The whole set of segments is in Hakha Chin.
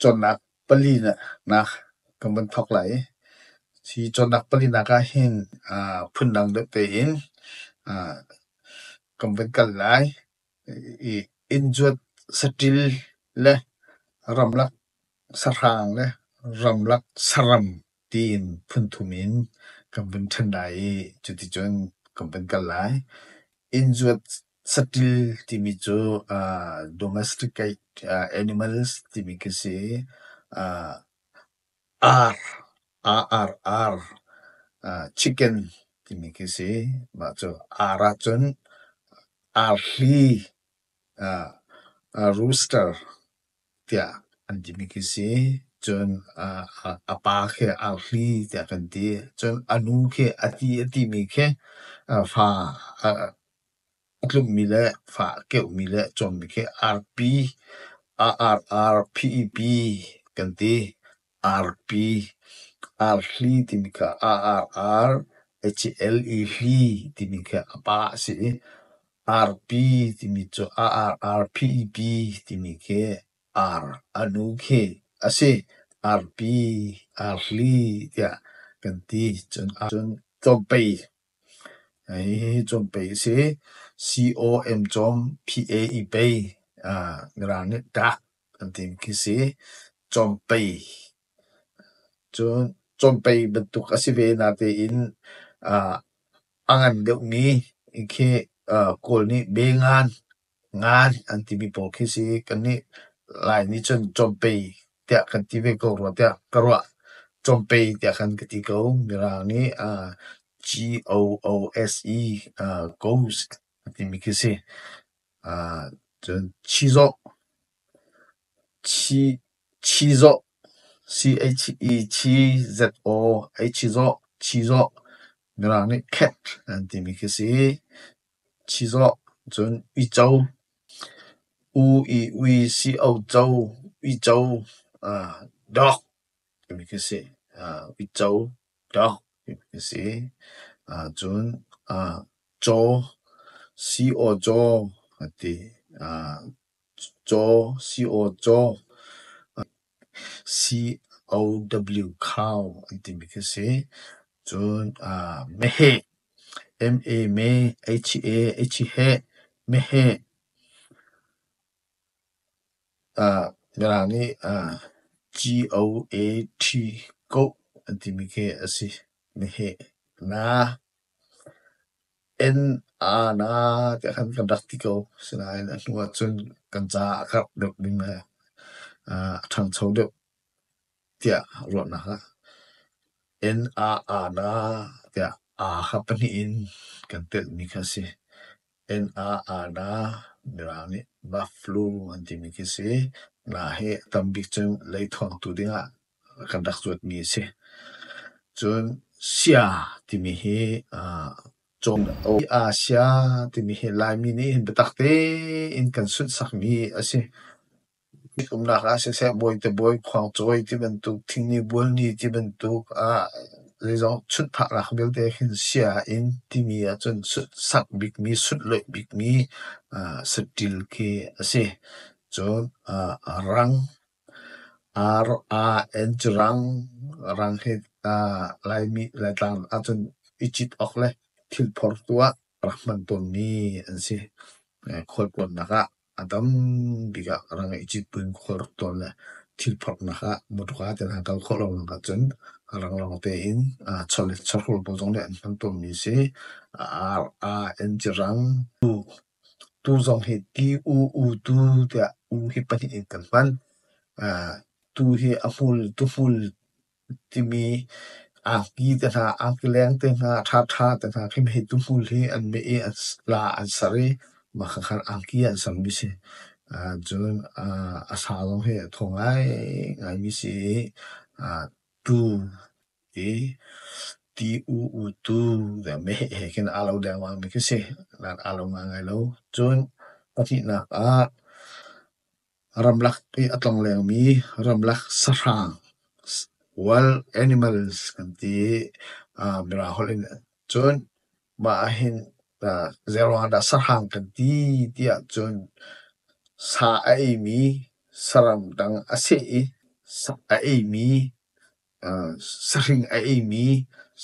Cawnnak palinak kan van thawk lai. Hi cawnnak palinak ahhin aa phundang deuh tein aa kan van kal lai. I innzuat, saṭil le ramlak sahrang le ramlak saram. tiin phunthum in kan vun ṭhen lai i cuticun kan vun kal lai. Innzuat saṭil timi cu uh, domesticate uh, animals timi khi si. Uh, ar, A-R-R, uh, chicken timi khi si. Mah cu ar ahcun arhli, uh, uh, rooster tiah an timi khi si. Cun a pa khi arhli tiah kan ti. Cun a nu khi a ti a timi khi fa a tlummi le fa a keuhmi le a cawmmi khi arpi, a ar, arphi, pi kan ti. Arpi arhli timi kha a ar ar HL i hli timi kha a pa a si i arpi timi cu a ar ar phi pi timi khi ar a nu khi a si. Arpi arhli tiah kan ti cun ahcun cawmpei hi cawmpei a si. C O M cawm P A i pei Ngara nih ṭah. An tim khi si. Cawmpei. Cun cawmpei bantuk a si ve na tein ah a ngan deuhmi khi Kawl nih bengan, ngan an timi pawl khi si. Kannih Lai nih cun cawmpei tiah kan ti ve ko rua tiah ka ruah. Cawmpei tiah khan ka ti ko. Mirang nih G-O-O-S-E, ghost an timi khi si. Cun chizawh, chizawh, chizawh, chizawh mirang nih cat an timi khi a si. Chizawh cun uico, u i ui, si o co, uico, dawk. timi khi a si. Uico ṭawk timi khi a si. Cun caw, si-aw-caw a ti. Caw, si-aw-caw, C-O-W cow an timi khi a si. Cun meheh, M-E-meh, H-E, H-he, meheh. Mirang nih G-O-A-T koh an timi khi a si. Meheh na, en, a na tiah khan kan rak ti ko. Asinain a hnu ahcun kan caah a karh deuh ding le a ṭhangcho deuh tiah ruahnak a. En, a, a na tiah a ha pahnih in kan telhmi kha a si. NAANA mirang nih Buffalo an timi khi a si. Nga hi a tam bik cu lei thawngtu dingah kan rak zuatmi a si. Cun Sia timi hi aa cawn a si. Asia timi hi Laimi nih hin biatak tein kan sunhsakmi a si. Mit umnak ah siseh, bawite bawi, khuangcawi tibantuk, thingni bualni tibantuk ah zeizong sunh phaknak vialte hin sia in timi ahcun sak bikmi, sunh loih bikmi saṭil khi a si. Cun rang, R-A-N cu rang, rang hi Laimi, Laitlang ahcun i cit awk le thil phor tu ah rak hman tawnmi an si, khualtlawnnak ah. A tam bik ah ka rak ngeih citpun khualrak tuan le thil phorhnak ah mawṭuka tein an kal khawh lonak ahcun ranglawng tein chawhrawl pawl zong nih an hman tawnmi a si. Ar, a, encirang, tuk, tu zong hi ti, u, u, tu tiah u hi pahnih in kan hman. Tu hi a hmul, tuhmul Timi angki te hna, angki leng te hna, ṭhaṭha te hna khi mei tuhmul hi an meh i la an ser i mahkhakkhat angki an sermi si. Cun a sa zong hi a thaw ngaingaimi si i tu i ti u-u tu meh he khin aa lo dengmangmi khi si. Aa lo ngaingai lo. Cun pahnihnak ah. Ramlak i a tlonglengmi ramlak sahrang wild animals kan ti. Mirang holh in cun mah ahhin Zeirang ahdah sahrang kan ti ti ahcun sa a eimi saram dang a si i sa a eimi sahring a eimi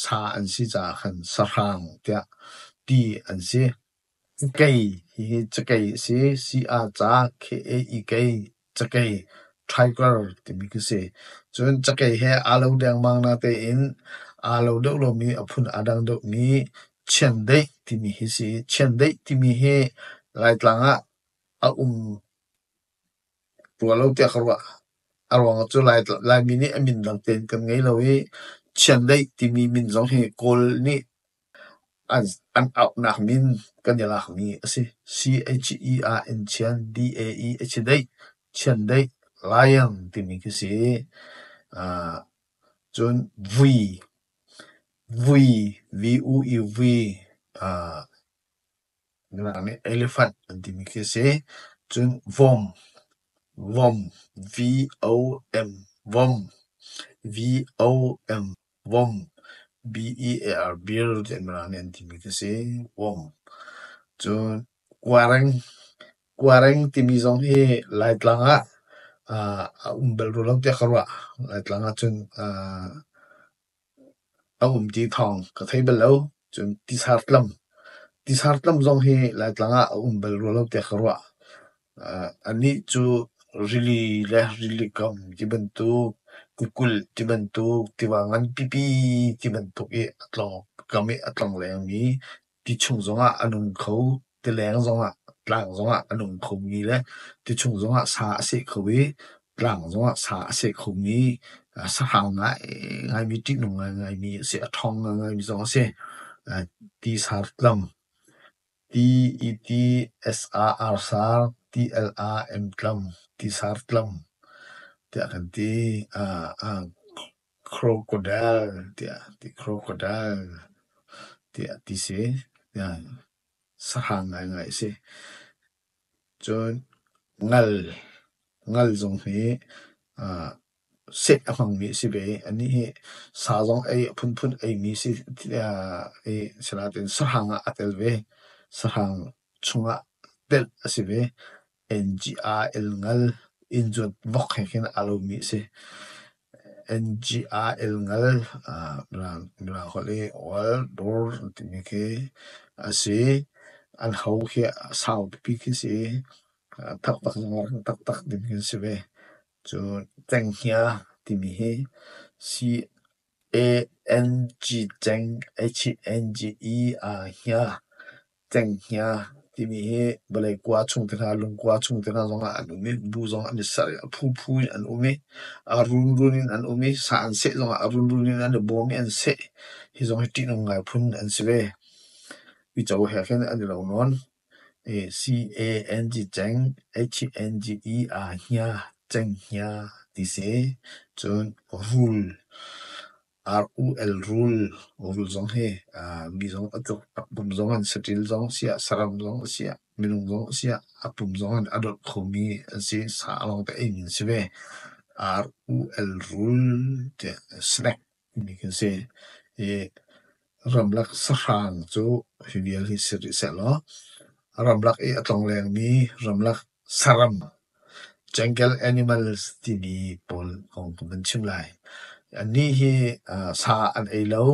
sa an si caah khan sahrang tiah ti an si. Ikei hihi cakei a si. Si-a-ca, K-A-I-K, cakei, tiger timi khi a si. Cun cakei he aa lo dengmang na tein aa lo deuh lomi, a phun aa dang deuhmi chiandeih timi hi a si. Chiandeih timi hi Laitlang ah a um rua lo tiah ka ruah. A ruang cu Laimi nih a min dang tein kan ngei lo i, chiandeih timi min zong hi Kawl nih An auhnak min kan i lakmi a si. C-H-E ah in thian, D-A-E a si deih. Thiandeih, lion timi khi si. Aa cun vui, vui, V-U-I vui. Aa elephant an timi khi si. Cun vom, vom, V-O-M, vom, V-O-M. Vom B-E-A-R-Bir tiah mirang nih an timi khi a si. Vom cun kuareng, kuareng timi zong hi Laitlang ah aa a um bal rual lo tiah ka ruah. Laitlang ahcun aa a um ti thawng ka thei bal lo. Cun tisar tlam, tisar tlam zong hi Laitlang ah a um bal rual lo tiah ka ruah. Anih cu rili le rili kong tibantuk, kukulh tibantuk, tiva nganpipi tibantuk i a tlawk, kam i a tlong lengmi, ti chung zongah a nung kho, tileng zongah, tlang zongah a nung khomi le ti chung zongah sa a seh kho i, tlang zongah sa a seh khomi, sahrang ngaingaimi, ṭihnung ngaingaimi a si, a ṭhawng ngaingaimi zong a si, ti sar tlam. T-E-T-S-A-R-Sar T-L-A-M-tlam T-Sar-tlam tiah kan ti. Crocodile tiah ti crocodile tiah ti si. Sahang ngaingai si. Cun ngal, ngal zong hi set a hmangmi a si ve. Anih hi sa zong ei a phunphun eimi si i asinain sahrang ah a tel ve. Sahrang chungah telh a si ve. N-G-R-L ngal innzuat vok he khin aa lomi a si. N-G-R-L ngal mirang holh i oaldor an timi khi a si. An ho khi sau pipi khi a si i taktak taktak timi khi a si ve. Cu cenghngia timi hi C-A-N-G-ceng-I-H-I-N-G-E aa-hnia cenghngia timi hi vawlei kua chung te hna, lungkua chung te hna zongah an um i bu zongah an i serh i a phuphu in an um i a runrun in an um i sa an seh zongah a runrun in an i bawm i an seh. Hi zong hi ṭihnung ngai phun an si ve. Uico he khin an i lo nawn. Canghe ah hia cenghngia ti si. Cun rul, rul zong hi mi zong a tluk. Pum zong in saṭil zong a si i saram zong a si i minung zong a si i a pum zong in a dolh khomi an si. Sa lawng te ing in a si ve. Rul tiah snack. mi kan si. I ramlak sahrang cu hi vial hi si rih sehlaw ramlak i a tlongleng mi ramlak saram jungle animals timi pawl kong kan van chim lai. Annih hi sa an ei lo,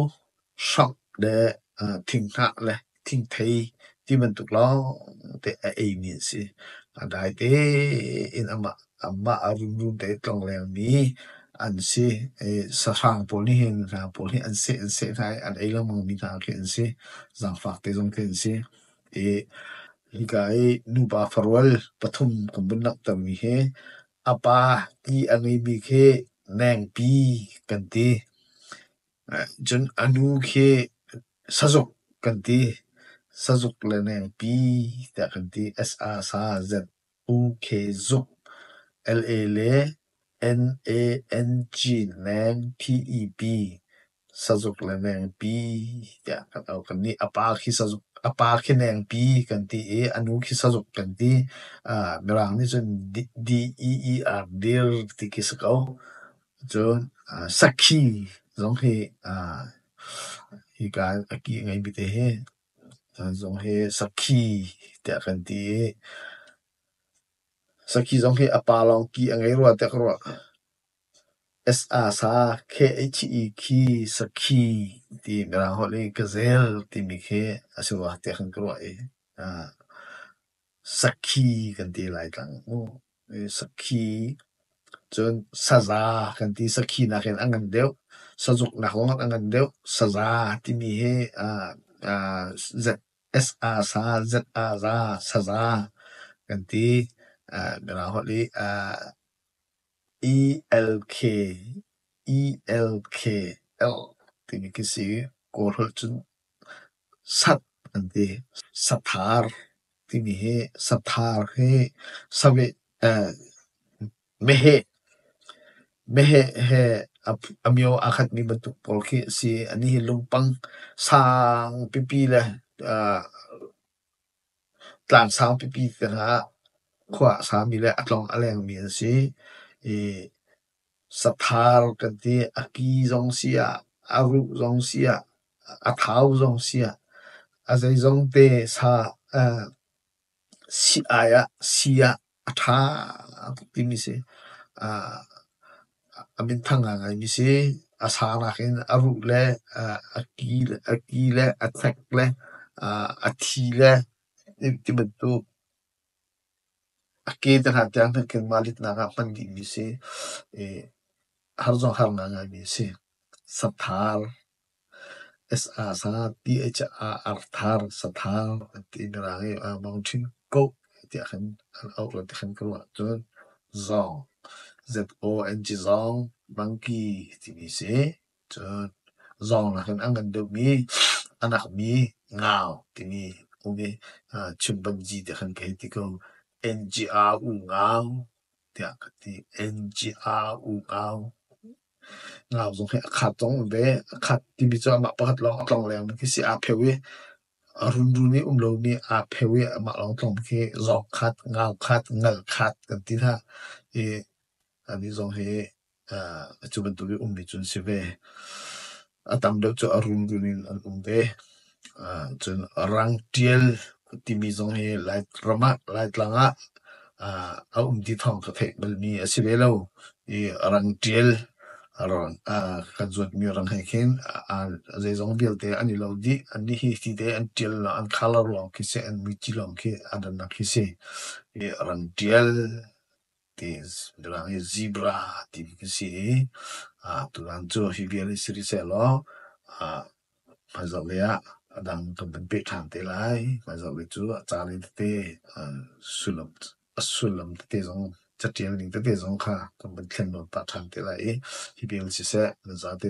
hrawk le thinghnah le thingthei ti bantuk lawngte a eimi an si. A dai te in amah, amah a runrun te tlonglengmi an si. sahrang pawl nih hin, rang pawl hi an seh, an seh hna i an ei lengmangmi hna khi an si. Zangfak te zong khi an si. hika i nupa farual pathum kan vun langhtermi hi a pa i a ngeimi khi nengpi kan ti. Cun a nu khi sazuk kan ti. Sazuk le nengpi tiah kan ti. S-a-sa-z-u-k-zuk. L-a le n-a-n-g nengp. Sazuk le nengpi tiah kan au. Kannih a pa khi nengpi kan ti i a nu khi sazuk kan ti. Mirang nih cun d-e-e-r, dir ti khi si ko. Cun aa sakhi zong hi aa hika a ki a ngeimi te hi an zong hi sakhi tiah kan ti i sakhi zong hi a pa lawng ki a ngei rua tiah ka ruah. S-a sa K-h-e khi sakhi ti mirang holh i gazel timi khi a si rua tiah kan ka ruah i aa. Sakhi kan ti lai cang mu. Sakhi cun saza kan ti. Sakhi nak in a ngan deuh. Sazuk nak zong a ngan deuh. Saza timi hi Z-S-A-sa, Z-A-za, saza kan ti. Mino holh i E-L-K, E-L-K, L timi khi si. Kawl holh cun sat an ti. Sathar timi hi sathar hi saveh eh meheh meheh he a mio aa khatmi bantuk pawl khi a si. Anih hi lungpang sang pipi le eh tlang sang pipi tiang ah khua a sami le a tlawng a lengmi an si i Sathar kan ti. A ki zong si ah, a ruh zong si ah, a thau zong si ah, a zeizong te sa eh sii-ai ah, sii ah a ṭha tuk timi si. Ah a minthang ngaingai mi si. A sa nakin a ruh le eh a ki le, a ki le, a thek le, ah a thi le, tibantuk. A ke te hna tiang hin kan mah litnak ah hman dih mi si. I har zong har ngai ngai mi a si. Sathar, S-A-Sa-T-H-A-R-thar, sathar an ti mirang i a mang ṭhin koh tiah khan an auh le ti khan ka ruah ahcun zong, Z-O-N-G zong, monkey ti mi si. Cun zawng nakin an kan duh mi a nak mi ngau timi um i chim banji tiah khan ka hei ti ko. NGR U Ngau tiah ka ti. NGR U Ngau. Ngau zong hi a khat zong ve. A khat timi cu amah pakhat lawng a tlong lengmang khi si. Aa pheu i a runrun i um lo mi aa pheu i amah lawng a tlong khi zawk khat, ngau khat, ngal khat kan ti hna i a ni zong hi Ah cu bantuk i ummi cu an si ve. A tam deuh cu a runrun in an um ve. Ah cun rang ṭial timi zong hi Lairam ah Laitlang ah ah a um ti thawng ka theih balmi a si ve lo. I rang ṭial ah kan zuatmi rang he khin zeizong vialte an i lo dih. Anih hi hi te an ṭial lawng, an colour lawng khi si, an miti lawng khi, an rannak khi si. I rang ṭial. Tulang hi zebra timi kan si i ah tulang cu hi vial hi sirisehlaw ah hmaizarh lei ah a dang kan van peh ṭhan te lai. Hmaizarh lei cu a ca lei tete a sullam tete zong caṭial ning tete zong kha kan van thlen lawm pah ṭhan te lai i hi vial siseh nan zate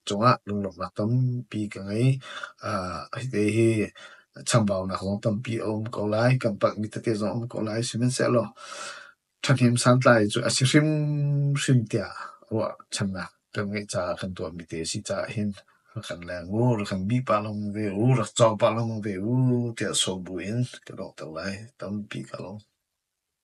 cungah lunglawmhnak tampi ka ngei. Aa hiti hi chambaunak zong tampi a um ko lai. Kan palhmi tete zong a um ko lai. Sihmanhsehlaw ṭhahnem santlai cu a si hrimhrim tiah ruahchannak kan ngeih caah kan tuahmi te a si caah hin rak kan leng u, rak kan bih pah lengmang ve u, rak cawk pah lengmang ve u tiah sawm buin ka lawmhter lai. Tampi ka lawm.